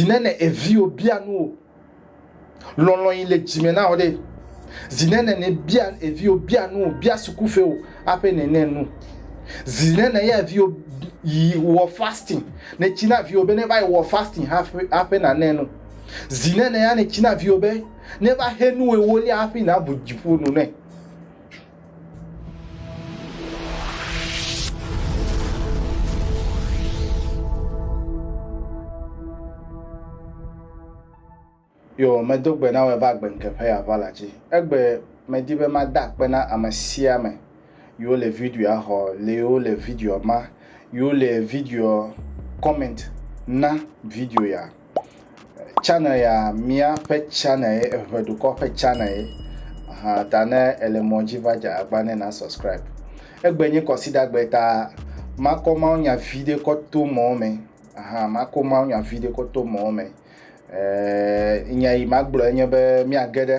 Zine ne eviwo bia nu o. Lɔlɔ yi le dzime na o ɖe. Zine ne ne bia eviwo bia nu o, bia suku fe o, ape ne ne nu. Zine ne ya eviwo yi wɔ fasting, ne tsi na viwo be ne va yi wɔ fasting hafi ape na ne nu. Zine ne ya ne tsi na viwo be ne va he nu ewo lia hafi na bu dziƒo nu ne. Yo, medo gbe na wò va gbe ŋke ƒe yeava la dzi. Egbe medi be mada akpe na ame sia ame yiwo le videoa xɔ, le yiwo le videoa ma, yiwo le videoa comment na video ya. Channel ya míaƒe channel ye eŋe dukɔ ƒe channel ye hã ta ne ele mɔ dzi va dze agba ne na subscribe. Egbe nye kɔsidagbe ta makɔ mawunya vi ɖe kɔ to mɔ me hã makɔ mawunya vi ɖe kɔ to mɔ me. E, nya yi magblɔ enye be míage ɖe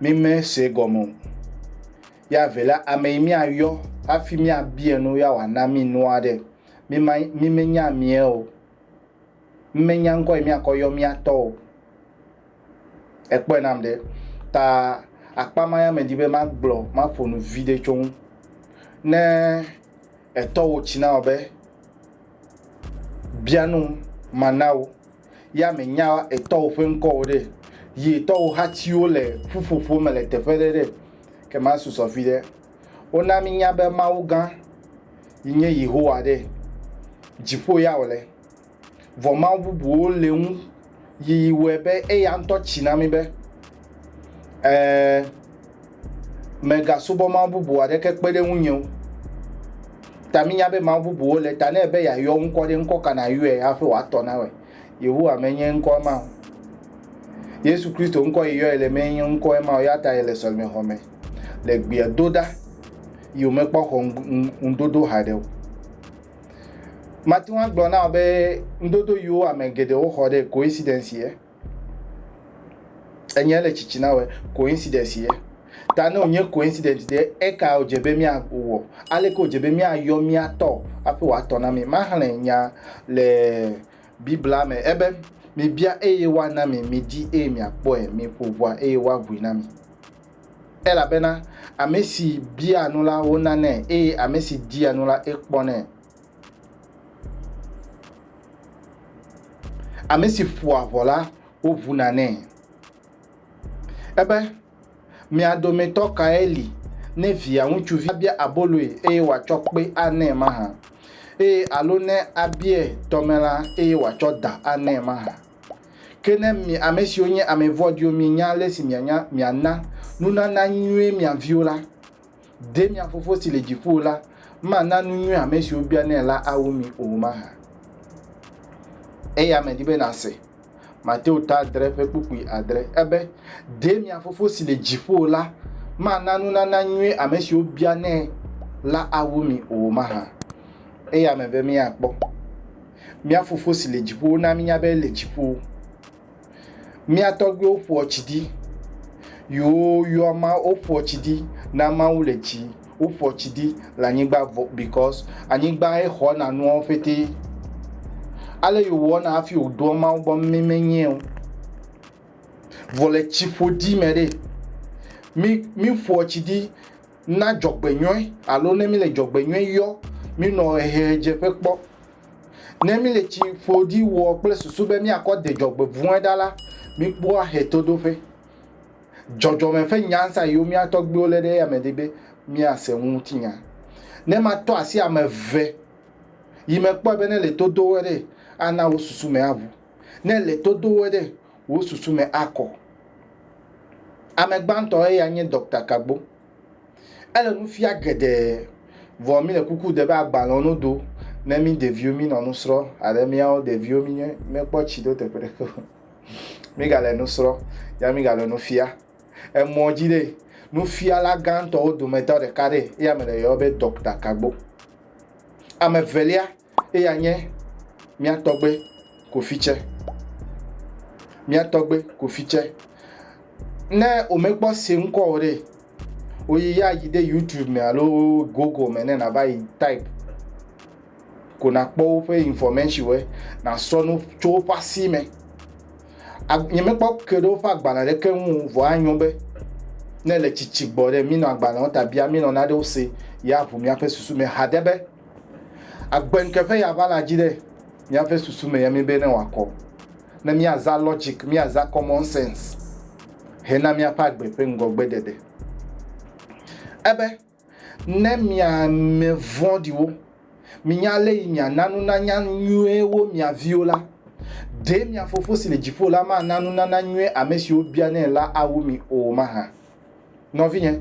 Mi me se gɔme o. Ya ve la, ame yi mia yɔ hafi mia biɛ nu ya wa na mi nua ɖe, mi ma, mi me nya amiɛ o. Mi me nya ŋkɔ yi mia kɔ yɔ mia tɔ o. E kpɔɛ nam ɖe. Ta akpa ma ya me di be ma gblɔ, ma ƒo nu viɖe tso ŋu. Ne etɔwo tsi na wɔ be, bia num, ma na wo. ya mènya etɔwò ƒe ŋkɔ o ɖe, yi etɔwò hatiwo le ƒuƒoƒo me le teƒe ɖe ɖe, ke masusɔ viɖe. Wona mínya be Mawu gã yi nye Yehowa ɖe, dziƒo ya wòle. Vɔ mawu bubuwo le ŋu yi wɔe be eya ŋutɔ tsi na mí be. Ɛɛ, mègasubɔ mawu bubu aɖeke kpe ɖe ŋunye o. Ta mínya be mawu bubuwo le, ta ne ebe yeayɔ ŋkɔ ɖe, ŋkɔ ka nàyɔe hafi wòatɔ na wòe? Yehowa menye ŋkɔ ma o. Yesu Kristo ŋkɔ yi yɔe le menye ŋkɔ ma o, ya ta yele sɔlemexɔ me le gbea do ɖa yi womekpɔ xɔ ŋudodo haɖe o. Mate ŋu agblɔ na wò be ŋudodo yiwo ame geɖewo xɔ ɖe coincidence ye. Enya le tsitsi na wɔ coincidence ye. Ta ne wònye coincidence ɖe, eka wòdze be míawɔ? Aleke wòdze be míayɔ mía tɔ hafi wòatɔ na mí? Maxlẽ nya le Biblia me ebe, Mibia eye woana mi, midi eye miakpɔe, miƒo ʋɔa eye woaʋui na mi. Elabena ame si biaa nu la, wonanɛ eye ame si dia nu la, ekpɔnɛ. Ame si ƒoa ʋɔ la, woʋuna nɛ. Ebe, Mia dometɔ kae li ne via ŋutsuvi bia aboloe eye wòatsɔ kpe anɛ mahã? Eye alo ne abiae tɔme la eye wòatsɔ da anɛ mahã? Ke ne mi ame siwo nye ame vɔ̃ɖiwo mienya ale si miana nunana nyuie mia viwo la, Ɖe mia Fofo si le dziƒo la mana nu nyui ame siwo bianɛ la awu mi o mahã? Eya medi be nase. Mateo ta adre ƒe kpukpui adre ebe, Ɖe mia Fofo si le dziƒo la mana nunana nyui ame siwo bianɛ la awu mi o mahã? Eya mebe míakpɔ. Mía Fofo si le dziƒo na mínya be ele dziƒo. Mía tɔgbuiwo ƒoa tsi di. Yoo, yoo ama, woƒoa tsi di ne ameawo le dzi. Woƒoa tsi di le anyigba vɔ because anyigbae xɔna nuawo ƒete. Ale yewɔna hafi woɖoa Mawu gbɔ mi menyae o. Vɔ le tsiƒodi me ɖe, mi miƒoa tsi di Na dzɔgbenyɔe alo ne míle dzɔgbenyɔe yɔ, mínɔ ʋehedzeƒe kpɔ. Ne míle tsi ƒoɖi wɔ kple susu be míakɔ de dzɔgbevɔ̃e ɖa la, míkpɔa ʋetodoƒe. Dzɔdzɔme ƒe nya sia yiwo mía tɔgbuiwo lé ɖe eyame di be míase ŋutinya. Ne matɔ asi ame eve yi mekpɔe be nele to do wo ɖee, ana wo susu me aʋu. ne le todoe ɖe wò susu me akɔ. Ame gbãtɔ eya nye Dɔkta Kagbo. Ele nu fia geɖe, vɔ mi le kuku de be agbalẽwo no do ne mi ɖeviwo mi nɔ nu srɔ aɖe miawo ɖeviwo mi nye mi kpɔ tsi ɖo teƒe ɖeke o. Mi ga le nu srɔ ya mi ga le nu fia. Emɔ dzi ɖe, nufiala gãtɔwo dometɔ ɖeka ɖe eya me le yɔɔ be Dɔkta Kagbo. Ame velia. Eya nye mía tɔgbe Kofi tsɛ. Mía tɔgbe Kofi tsɛ. Ne womekpɔ se ŋkɔ o ɖe, woyi ya yi ɖe YouTube me alo Google me ne nàva yi type ko nàkpɔ woƒe informationwo, nàsrɔ̃ nu tso woƒe asi me. Nyemekpɔ ke ɖe woƒe agbalẽ ɖeke ŋu o, vɔ anyo be ne le tsitsi gbɔ ɖe, mínɔ agbalẽwo ta bia, mínɔ nanewo se, ye aʋu míaƒe susu me haɖe be, Agbeŋke ƒe ya va la dzi ɖe míaƒe susu me ya mí be ne wòakɔ, ne míaza logic, míaza common sense hena míaƒe agbe ƒe ŋgɔgbeɖeɖe. Ebe, ne mia ame vɔ̃ɖiwo, minya ale yi miana nunanya nyuie wo mia viwo la, ɖe mia Fofo si le dziƒo la mana nunana nyuie ame siwo bianɛ la awu mi o mahã? Nɔvinye,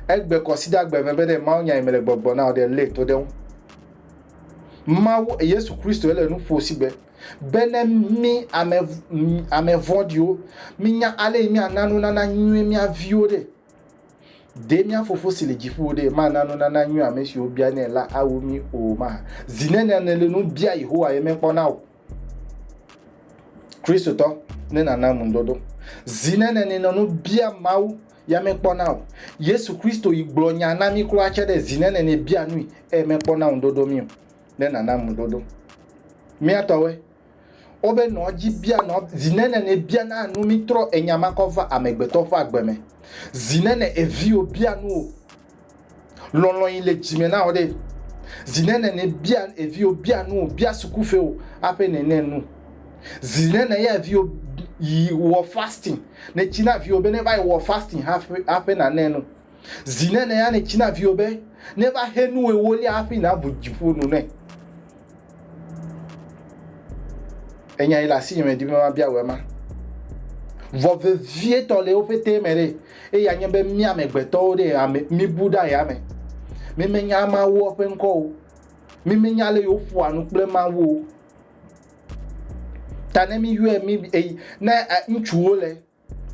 egbe kɔsida gbe me be ɖe Mawu nya yi mele gbɔgblɔ na ɖe lé to ɖe ŋu. Mawu Yesu Kristo ele nu ƒo sigbe be ne mi ame ame vɔ̃ɖiwo minya ale yi miana nunana nyui mia viwo ɖe. Ɖe mia fofo si le dziƒo ɖe mana nunana nyui ame siwo bia nɛ la awu mi o ma. Zi nene ne le nu bia Yehowa ye mekpɔ na o. kristotɔ ne nana ŋudodo zi ne nene nɔ nu bia mawu ya mekpɔna o yesu kristo yi gblɔ nya na mi kura tse ɖe zi ne nene bia nui eye mekpɔna ŋudodo mi o ne nana ŋudodo miatɔwe wobe nɔ dzi bia nɔ zi ne nene bia na nu mi trɔ enya makɔ va amegbetɔ ƒe agbe me zi ne ne eviwo bia nu o Lɔlɔ̃ yi le dzime na wò ɖe. Zi nene ne bia eviwo bia nu o, bia sukufiwo aƒe nene nu. Zi nene ya eviwo yi wɔ fasting, ne tsi na viwo be ne va yi wɔ fasting hafi aƒe nane nu. Zi nene ya ne tsi na viwo be ne va xe nu ewolia hafi nabu dziƒo nu ne. Enya yi le asi nye medi be mabia wò ema. Vɔ vevietɔ le wo ƒete me ɖe, eye anye be mía amegbetɔwo ɖe ame mibu ɖe aya me. Mimenya Mawu ƒe ŋkɔ o. Mimenya ale yewo ƒoa nu kple Mawu o. Ta ne miyɔe mi ne ŋutsuwo le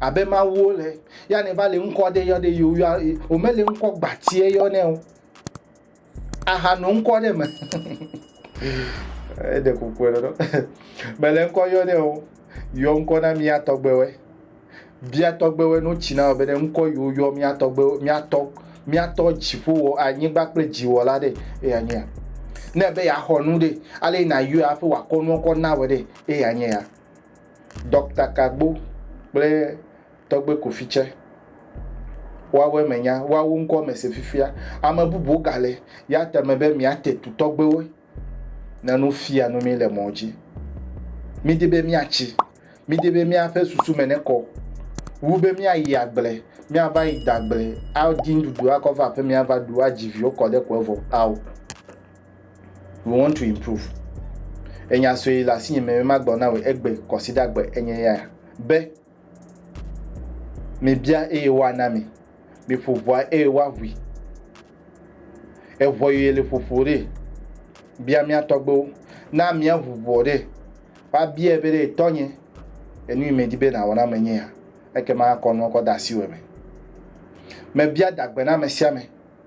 Abe mawuwo le ya ne va le ŋkɔ ɖe yɔ ɖe yewo ya womele ŋkɔ gbatie yɔ nɛ o. Aha no ŋkɔ ɖe me. Eɖe kuku ɖe ɖo. Mele ŋkɔ yɔ nɛ o. Yɔ ŋkɔ na mía tɔgbewe. Bia tɔgbewe no tsi na be ne ŋkɔ yewo yɔ mía tɔgbewe mía tɔ mía tɔ dziƒo wɔ anyigba kple dziwɔ la ɖe eya nye ya. Ne be ya xɔ nu ɖe ale na yɔ ya ƒe wakɔ nua kɔ na we ɖe eya nye ya. Dɔkta Kagbo kple Tɔgbe Kofi tsɛ, woawo eme nya, woawo ŋkɔ mese fifia. Ame bubuwo gale ya te me be míate tu tɔgbewo ne nu fia nu mí le mɔ dzi. Mídi be míatsi, mídi be míaƒe susu me nekɔ wu be míayi agble, míava yi de agble, adi nuɖuɖu akɔ va aƒeme ava ɖu, adzi viwo kɔ ɖe ƒe vɔ ao. We want to improve. Enya sue le asinye me magblɔ na wò egbe kɔsidagbe enye ya be mibia eye woana mi, miƒo ʋɔa eye woaʋui. Eʋɔ yeye le ƒoƒo ɖe bia mía tɔgbewo. Na míaʋu ʋɔ ɖe woabiae be ɖe tɔnye enu yi medi be nàwɔ na menye ya ekema akɔ nua kɔ de asiwò me. Mebia dagbe na ame sia ame